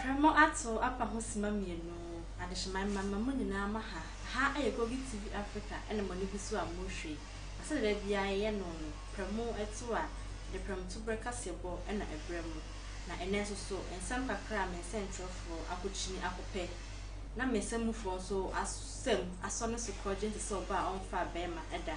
Prɛmo ato apa ho sima mienu, adehyeman mma mma mo nyinaa mo ha, ha ɛyɛ Kogi TV Africa ɛna mo ani gu so a mo hwɛ yi, na sɛdeɛ da biara yɛ yɛ no no, prɛmo ɛto a, yɛde prɛmo to berɛ kaseɛ bɔ ɛna ɛbrɛ mo, na ɛnɛ nso so, nsɛm kakra a me nsɛntwerɛfoɔ ako kyini ako pɛ, na me nsɛm mufoɔ nso asɛm asɔ ne so korɔgye nte sɛ ɔbaa a ɔmfaa bɛɛma da.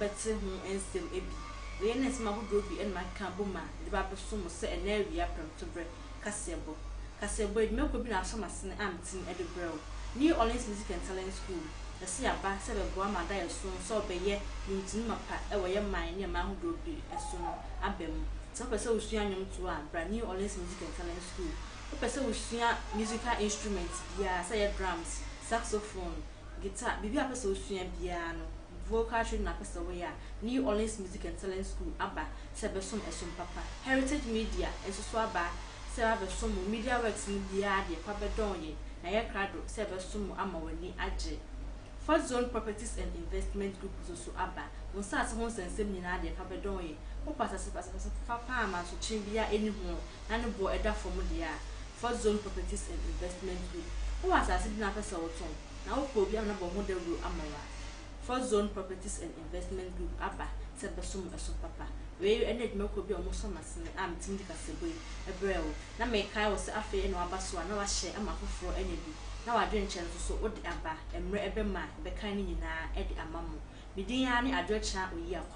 bɛtse ho nsɛm bi. Wei na nsɛm ahodoɔ bi na makeka abɔ mu a mede ba abɛso mo sɛ ɛnnɛ awia prɛmtoberɛ kaseɛbɔ. Kaseɛbɔ adwumakuo bi na asɔ m'asene a metumi de brɛ wo. New Orleans Music and Talent School, yɛse yɛaba sɛ bɛboa ma ada yɛso sɛ wɔbɛyɛ nnwomtoni mapa wɔ yɛ man ne ɛman ahodoɔ bi so no aba mu. Sɛ wopɛ sɛ wosua nnwomtoɔ a, bra New Orleans Music and Talent School. Wopɛ sɛ wosua musical instrument biara, sɛ ɛyɛ drums, saxophone, guitar, biribi a wopɛ sɛ wosua biara no, Vocal training na apɛ sɛ woyɛ a, New Orleans Music and Talent School aba sɛ ɛbɛsom ɛsom papa. Heritage Media nso so aba sɛ abɛsom wo. Media Works no biara deɛ fa bɛdɔn yɛn na yɛ krado sɛ ɛbɛsom wo ama w'ani agye. Fourth Zone Properties and Investment Group nso so aba. Wo nsaase ho nsɛnsɛm nyinaa deɛ fa bɛdɔn yɛn. Wopɛ asase pa, asase fofa pa a amansotwe biara ɛnni ho na ne boɔ ɛda fam deɛ a, Fourth Zone Properties and Investment Group. Wowɔ asase bi na wopɛ sɛ wotɔn? Na wopɛ obi a na bɔ ho dawuro ama wo a? Fourth Zone Properties and Investment Group aba sɛ bɛsɔ mo ɛso papa. Wei ɛne adwuma kuo bi a ɔmo sɔ m'asene a metumi de kasabɔ yi ɛbrɛ wo. Na mekae wo sɛ afei ɛna waba so a na wahyɛ ama afoforɔ anya bi. Na w'adwenkyerɛ no soso wode aba mmerɛ ɛbɛma a bɛkae no nyinaa ɛde ama mo. Me din ara ne Adwokyerɛ Oyiakwa.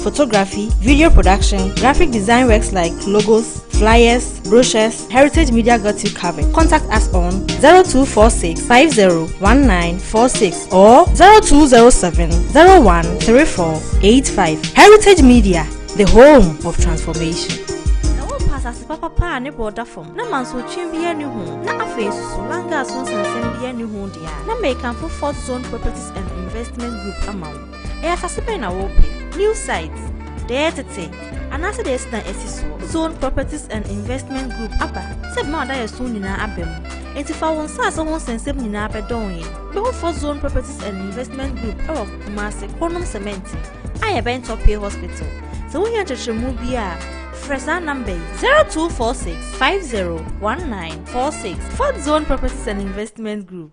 photography, video production, graphic design works like logos, flyers, brochures, Heritage Media got you covered. Contact us on 0246 501946 or 0207 013485. Heritage Media, the home of transformation. asase papapa a ne bɔ da fam na mansotwe biara ne ho na afei soso langa so nsensɛm biara ne ho deɛ a na mekamfo fort zone properties and investment group ama wo Ɛyɛ asase bɛn na wopɛ? New site, deɛ yɛ tete, anaasɛ deɛ yɛsi dan asi soɔ? Zone Properties and Investment Group aba sɛ ɛbɛma w'adayɛso nyinaa aba mu. Enti fa wo nsase ho nsɛnsɛm nyinaa bɛdɔn yɛn. Bɛhu Fort Zone Properties and Investment Group wɔ Kumasi, Kronom Cement, a yɛbɛn Topie Hospital. Sɛ wohia nkyerɛkyerɛmu biara a, frɛ saa namba yi, 0246 501946. Fort Zone Properties and Investment Group.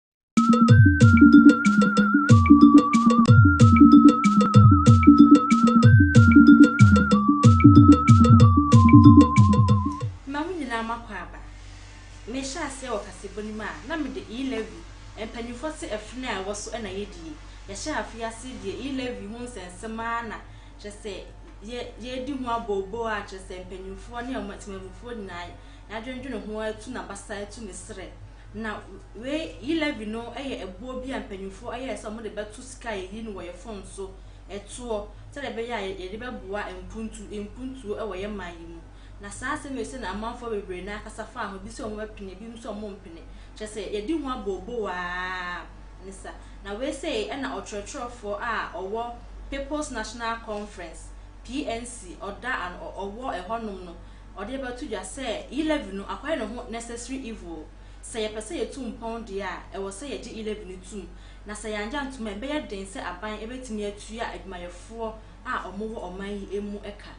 Ma mo nyinaa moakɔ aba. Mehyɛ aseɛ wɔ kasebo no mu a, na mede E. Levy, Mpanimfoɔ te afiri no a ɛwɔ so na yɛdie. Yɛhyɛɛ afei aseɛ deɛ E. Levy ho nsɛnsɛm ara na kyerɛ sɛ yɛ yɛredi ho abooboo a kyerɛ sɛ mpanimfoɔ ne ɔma temanmufoɔ nyinaa yɛadwendwene ho atu n'abasa atu ne serɛ. Na wei, yi levy no yɛ ɛboɔ bi a mpanyinfoɔ ayɛ sɛ wɔn de bɛto sika a yɛyi no wɔ yɛn fon so, ɛtoɔ, sɛdeɛ ɛbɛyɛ a yɛde bɛboa mpuntu, mpuntuo ɛwɔ yɛn man yi mu. Na saa asɛm wei sɛ na amanfoɔ bebree no ara kasa faa ho, ebi sɛ wɔn bɛpene, ebi nso sɛ wɔn mpene, kyerɛ sɛ yɛdi ho abooboo ara ne sa. Na wei sei ɛna ɔtwerɛtwerɛfoɔ a ɔwɔ People's National Conference, PNC, ɔda ano, ɔwɔ ɛhɔ nom no, ɔde bɛto dwa sɛ Eleven no akɔyɛ ne ho necessary evil. Sɛ yɛpɛ sɛ yetu mpɔn deɛ a, ɛwɔ sɛ yɛgye Eleven no tom, na sɛ yɛanyɛ antom a, ɛbɛyɛ den sɛ aban bɛtumi atua adwumayɛfoɔ a wɔwɔ ɔman yi mu ka.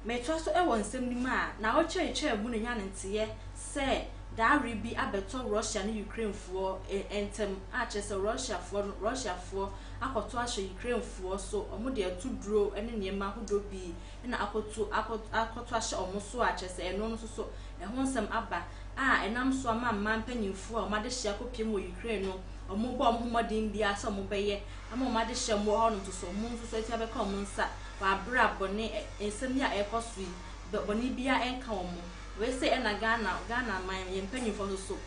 Metoa so wɔ nsɛm no mu a, na ɔrekyerɛkyerɛ mu no nya no nteeɛ sɛ dawere bi abɛtɔ Russia ne Ukrainefoɔ ntam, a kyerɛ sɛ Russiafoɔ no Russiafoɔ akɔto ahyɛ Ukrainefoɔ so, wɔde atuduro ne nneɛma ahodoɔ pii na akɔto akɔ akɔto ahyɛ wɔn so a, kyerɛ sɛ ɛno nso so ɛho nsɛm aba a ɛnam so ama mmaa mpanimfoɔ a wɔn adehyeɛ akɔpem wɔ Ukraine no, wɔbɔ wɔn ho mmɔden biara sɛ wɔbɛyɛ ama wɔn adehyeɛ a wɔwɔ hɔnom nso so, wɔn nso so atumi abɛka wɔn nsa wɔ aberɛ a bɔne ɛ nsɛm yi a ɛrekɔ so yi, bɛ bɔne biara nka wɔn. Wei sei na Ghana Ghana man, yɛn mpanimfoɔ nso so,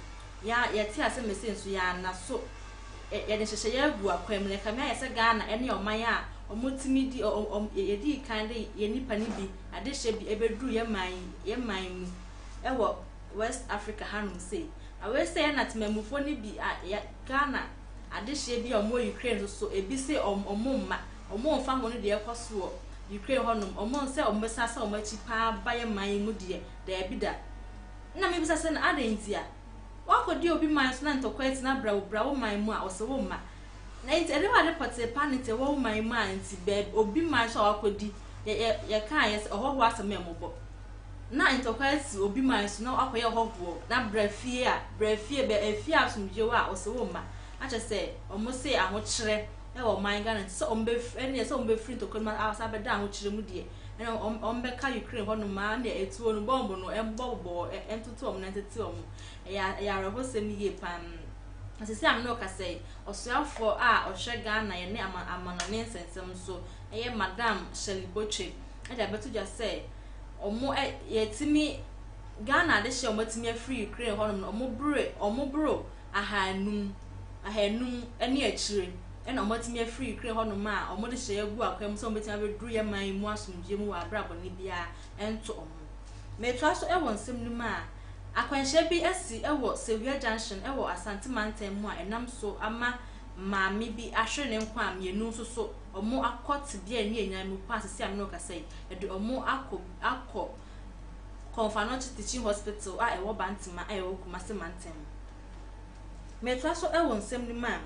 yɛa yɛte aseɛ ma sei nso yɛanna so. yɛde nhyehyɛeɛ agu akwan mu na ɛkame ayɛ sɛ Ghana ne ɔman a wɔtumi di wɔn yɛdii kan de yɛn nnipa no bi adehyeɛ bi bɛduru yɛn man yi yɛn man mu wɔ West Africa hanom sei. Na wei sɛ na temanmufoɔ no bi a yɛ Ghana adehyeɛ bi a wɔwɔ Ukraine nso so ebi se wɔn wɔn mma wɔn mfa ho no deɛ ɛkɔ so wɔ Ukraine hɔnom wɔn nsɛ wɔn bɛsan sɛ wɔn akyi paa ba yɛn man yi mu deɛ daabi da. Na mebisa sɛ na adɛn nti a Woakɔdi obi man so na ntɔkwɛɛ tena brɛoo bra wo man mu a, ɔse wo mma. Na enti ɛdeɛ w'ade pɔtee pa ne te wɔ wo man mu a nti bɛɛb obi man so a woakɔdi yɛ yɛ yɛkaeɛ sɛ ɔhɔhoɔ asɛm yɛ mmɔbɔ. Na ntɔkwɛɛ te obi man so na woakɔyɛ ɔhɔhoɔ na bra fie a, bra fie bɛ afie a asomdwie wɔ a, ɔse wo mma. Na kyerɛ sɛ ɔmo se ahokyerɛ wɔ ɔman Ghana nti sɛ ɔmo bɛf ɛneɛ sɛ ɔmo bɛfiri ntɔkwɛɛ no mu a asan abɛda ahokyerɛ mu deɛ ɛna wɔn wɔn bɛka Ukraine hɔ nom aa nea etuo no bɔmb no ɛbɔ bobɔ wɔ ɛ ɛntoto wɔn na ɛntete wɔn ɛyɛ ɛyɛ awerɛhosɛm yie paa na sɛsɛ a me ne wo kasa yi ɔsoafoɔ a ɔhwɛ Ghana yɛne ama amanɔne nsɛnsɛm so ɛyɛ Madam Shirley Botwe ɛde abɛto dwa sɛ wɔn ɛ yɛtumi Ghana adehyeɛ a wɔn atumi afiri Ukraine hɔ nom no wɔn bere wɔn boro ahaanum, ahaanum ne akyire na wɔatumi afiri Ukraine hɔnom a wɔde hyɛ agu akwan mu sɛ wɔbɛtumi abɛduru yɛn man yi mu asomdwoeɛ mu wɔ aberɛ a bɔne biara nto wɔn. Metoa so wɔ nsɛm no mu a, akwanhyia bi asi wɔ Sewia Junction wɔ Asante mantam mu a ɛnam so ama maame bi ahwere ne nkwa a mmienu nso so wɔakɔ tebea a ɛnyɛ nyan mu pa a seesei a me ne wo rekasa yi, ɛde wɔn akɔ akɔ Komfanochi Teaching Hospital a ɛwɔ Bantema a ɛwɔ Kumasi Mantam mu. Metoa so wɔ nsɛm no mu a,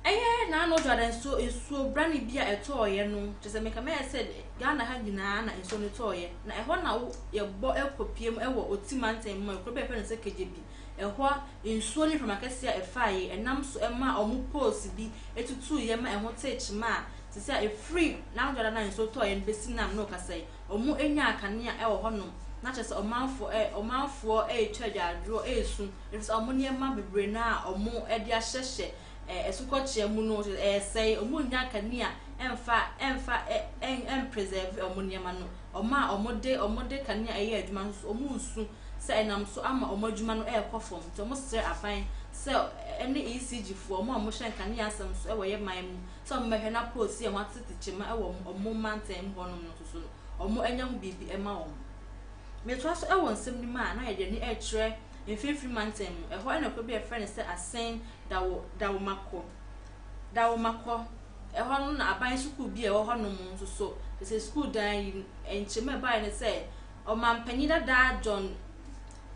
ɛyɛ Nano Dwada nsuo nsuo brane bi a ɛtɔɔeɛ no, kyerɛ sɛ meka mɛyɛ sɛ Ghana ha nyinaa na nsuo no tɔɔeɛ, na ɛhɔ na wo yɛbɔ kɔpie mu wɔ Oti Mantam mu, kuro bi a yɛfrɛ no sɛ Kegyebi, ɛhɔ nsuo ne mframa kɛseɛ a ɛfaaeɛ, ɛnam so ɛmaa ɔmo poles bi tutuuiɛ ma ɛho tee kyema a, sɛsɛ a ɛfiri Nano Dwada no a nsuo tɔɔeɛ no bɛsi nam no kasa yi, wɔanya akanea wɔ hɔnom, na kyerɛ sɛ ɔmanfoɔ ɛ, ɔmanfoɔ retwa agyaadwoɔ resu, ɛfiri sɛ wɔn nneɛma bebree no a wɔde ahyehyɛ ɛ, asukɔkyea mu no, kyerɛ sɛ ɛresɛe, wɔnnya akanea ɛmfa, ɛmfa ɛ, ɛ, ɛmpresɛɛve wɔn nneɛma no. Wɔn a wɔde, wɔde kanea yɛ adwuma nso so, wɔresu sɛ ɛnam so ama wɔn adwuma no rekɔ fam, nti wɔsrɛ aban sɛ ɛne ECG foɔ, wɔn a wɔhyɛ nkanea asɛm so wɔ yɛn man mu, sɛ wɔbɛhwɛ na poosi a wɔatete kyema wɔ wɔn wɔn mantam mu hɔnom no nso so no, wɔanya ho biribi mma wɔn. Metoa so wɔ nsɛm no mu a, na yɛde ani rekyerɛ Mfinimfini Mantam mu, ɛhɔ na kuro bi a wɔfrɛ no sɛ Asen Dawo, Dawomakɔ, Dawomakɔ, ɛhɔ no na aban sukuu bi a ɛwɔ hɔnom nso so, te sɛ sukuu dan yi, nkyem a ɛbaeɛ ne sɛ Ɔmanpanin dada John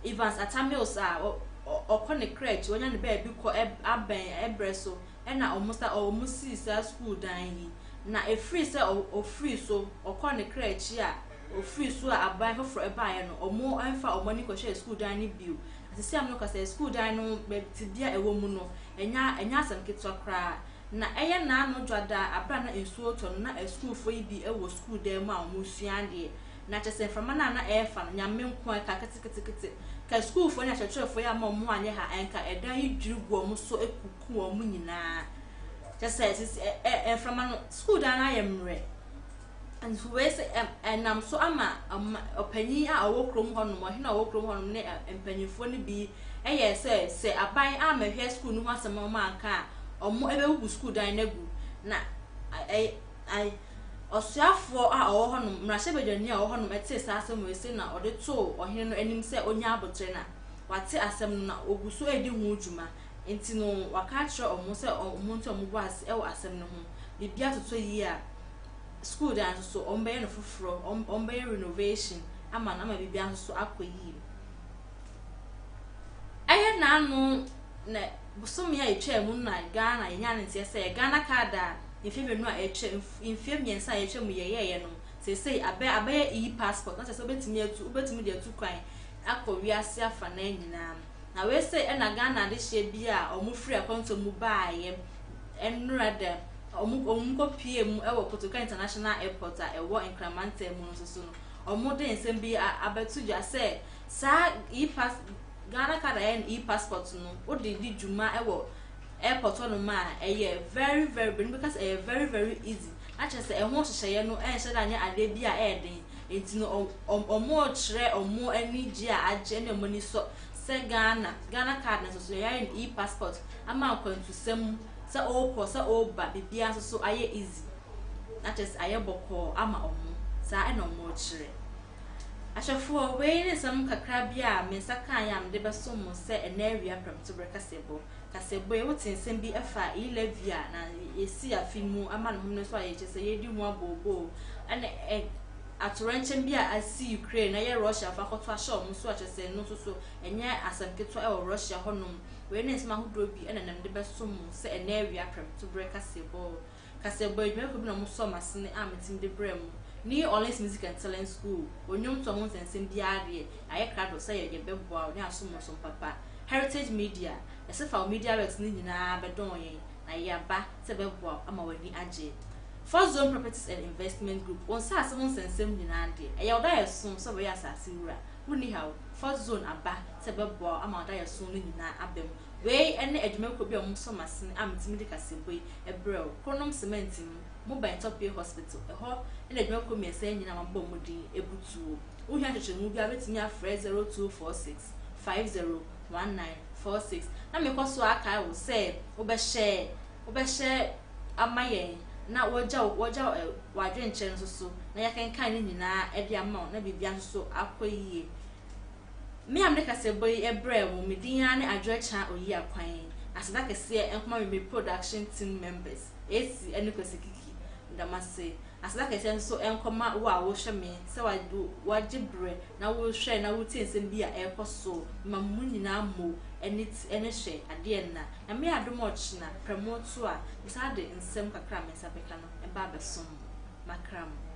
Evans Atta Mills a ɔ, ɔ, ɔkɔ ne kra akyi, wanya ne baabi kɔ ab, abɛn berɛ so, na wɔsa ɔ wɔn sii saa sukuu dan yi, na ɛfiri sɛ ɔ ɔfirii so, ɔkɔɔ ne kra akyi a, ɔfirii so a aban foforɔ baeɛ no, wɔamfa wɔn ani nkɔhwɛɛ sukuu dan no bio. Na seesei a merekasa yi, sukuu dan no bɛ tebea a ɛwɔ mu no, ɛnyɛ a ɛnyɛ asɛm ketewa koraa. Na ɛyɛ nnaano dwadaa a berɛ a na nsuo retɔ no, na asukuufoɔ yi bi wɔ sukuu dan mu a wɔresua adeɛ. Na kyerɛ sɛ mframa no a na ɛrefa no, Nyame nko ara, ɛkaa keteketekete. Nka asukuufoɔ ne akyerɛkyerɛfoɔ yi amma wɔn ho anyɛ ha a, nka ɛdan yi dwiri gu wɔn so ku. ko wɔn mu nyinaa kyɛ sɛ sisi ɛ ɛ mframa no sukuu dan no ayɛ mmerɛ nso wei sɛ ɛm ɛnam so ama ɔma ɔpanyin a ɔwɔ kurom hɔnom ɔhene a ɔwɔ kurom hɔnom ne mpanyinfoɔ no bi yɛ sɛ sɛ aban amɛhwɛ sukuu no ho asɛm a wɔn anka a wɔn ɛbɛbubu sukuu dan no agu na ɛ ɛ ɔsoafoɔ a ɔwɔ hɔnom mmarahyɛbadwani a ɔwɔ hɔnom ɛtee saa asɛm wei sɛ na ɔde too ɔhene no anim sɛ ɔnya abotire na wate asɛm no na ɔgu so redi ho dwuma Enti no, wɔaka akyerɛ wɔn sɛ wɔn nso wɔbɔ ase wɔ asɛm no ho. Biribi atotɔ yie a, sukuu dan nso so, wɔbɛyɛ no foforɔ, wɔbɛyɛ renovation ama no ama biribiara nso so akɔ yie. Ɛyɛ nnaano na bosome a ɛtwaa mu na Ghana yɛnya ne nteɛ sɛ Ghana card a mfeɛ mmienu a ɛtwa mfeɛ mmiɛnsa a ɛtwa mu yɛyɛeɛ no seesei abɛ abɛyɛ e-passport na kyerɛ sɛ wobɛtumi atu wobɛtumi de atu kwan akɔ wiase afanan nyinaa. Na wei sei ɛna Ghana adehyeɛ bi a wɔn firi akwantuo mu baeɛ nnora da wɔn wɔn kɔ pie mu wɔ Kotoka International Airport a ɛwɔ Nkran mantam mu no nso so no wɔn de nsɛm bi abɛto dwa sɛ saa e-pass Ghana card a ɛyɛ no e-passport no wode di dwuma wɔ airport hɔ nom a ɛyɛ very very bɛn bi ka sɛ ɛyɛ very very easy na kyerɛ sɛ ɛho nhyehyɛeɛ no ɛnhyɛ da nyɛ adeɛ bi a ɛyɛ den Nti no ɔmo rekyerɛ ɔmo anigye a agye ne ɔmo ani sɔ sɛ Ghana, Ghana card no nsoso yɛayɛ no e-passport ama nkwantusɛm mu sɛ ɔɔkɔ sɛ ɔɔba biribiaa nsoso ayɛ easy na kyerɛ sɛ ayɛ bɔkɔɔ ama ɔmo. Saa na ɔmo rekyerɛ. Ahwɛfoɔ, wei ne nsɛm kakra bi a me nsa kaeɛ a mede bɛsom mo sɛ ɛnnɛ awia prɛmtoberɛ kaseɛbɔ. kasabuei, wote nsɛm bi fa e-levy a na yɛasi afe mu ama no home no so a yɛkyerɛ sɛ yɛredi ho abooboo, ɛna ɛ, atoyerɛnkyɛm bi a asi Ukraine na ɛyɛ Russiafo akɔto ahyɛ wɔn so a kyerɛ sɛ ɛno nso so ɛnyɛ asɛm ketewa wɔ Russia hɔnom. Wei ne nsɛm ahodoɔ bi na na mede bɛsom mo sɛ ɛnnɛ awia prɛmtobere kaseɛbɔ. kasabua edwumayɛfo bi na wɔsɔɔ m'asene a metse mu dze brɛɛ mo. New Orleans Music and Talent School wɔ ndwomtoa ho nsɛnsɛm biara do yɛ, yɛayɛ krado sɛ yɛbɛboa wo ne asom wo som papa. Heritage Media, Ɛsefaw Media Works ne nyinara bɛdɔɔn yɛn na yɛaba sɛ yɛbɛboa wo ama w'ani agye. Fourth Zone Properties and Investment Group, wo nsaase ho nsɛnsɛm nyinara de, ɛyɛ wo daeɛso sɛ wobɛyɛ asaase wura. Wonni haw, Fourth Zone aba sɛ yɛbɛboa wo ama wo daeɛso no nyinaa aba mu. Wei ne adwumakuo bi a wɔn so masene a metumi de kasabɔ yi brɛ wo, Kronom Cement mu, Moban Tɔpie Hospital, ɛhɔ na adwumakuo mmiɛnsa yi nyinaa a mabobɔ wɔn din butuo. Wohia nkyerɛkyerɛmu biara wobɛtumi afrɛ 0246 501946 na mekɔ so ara kae wo sɛ wobɛhyɛ wobɛhyɛ ama yɛn na wɔagya wo wɔagya wo w'adwenkyerɛ nso so na yɛakenkan ne nyinaa de ama wo na biribiara nso so akɔ yie. Me a mede kasabɔ yi brɛɛ mo, me din ara ne Adwoa Kyah Oyi Akwan. Aseda kɛseɛ nkɔma me me production team members, AC ne Kwasi Kiki. Meda mo ase. Aseda kɛseɛ nso nkɔma wo a wohwɛ me, sɛ wa wo wagye berɛ na wohwɛ na wotie nsɛm bi a ɛrekɔ so. Mema mo nyinaa mmo ani t ne hwɛ adeɛ nna. Nyame adom a ɔkyena prɛmo to a, mesan de nsɛm kakra a me nsa bɛka no ba abɛsom mo. Makra mo.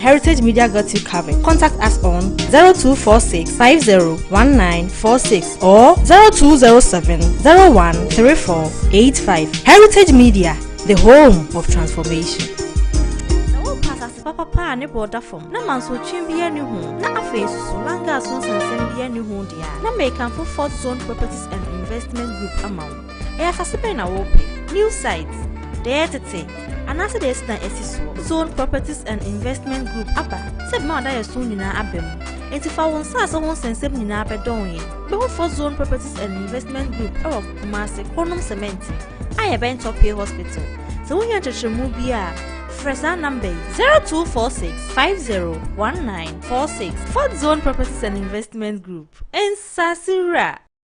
Heritage Media got you covered. Contact us on 0246 501946 or 0207 013485. Heritage Media, the home of transformation. papa a ne bɔ da fam na mansotwe bi ani ho na afei soso langa so nsensɛm bi ani ho deɛ a na mekamfo fort zone properties and investment group ama wo Ɛyɛ asase bɛn na wɔpɛ? New site, deɛ ɛyɛ tete, anaasɛ deɛ yɛsi dan asi soɔ? Zone Properties and Investment Group aba sɛ ɛbɛma w'adayɛso nyinaa aba mu. Enti fa wo nsase ho nsɛnsɛm nyinaa bɛdɔn yɛn. Wobɛhu Fort Zone Properties and Investment Group wɔ Kumasi, Kronom Sementi, a yɛbɛn Topie Hospital. Sɛ wohia nkyerɛkyerɛmu biara a, frɛ saa namba yi 0246 501946. Fort Zone Properties and Investment Group, nsase wura.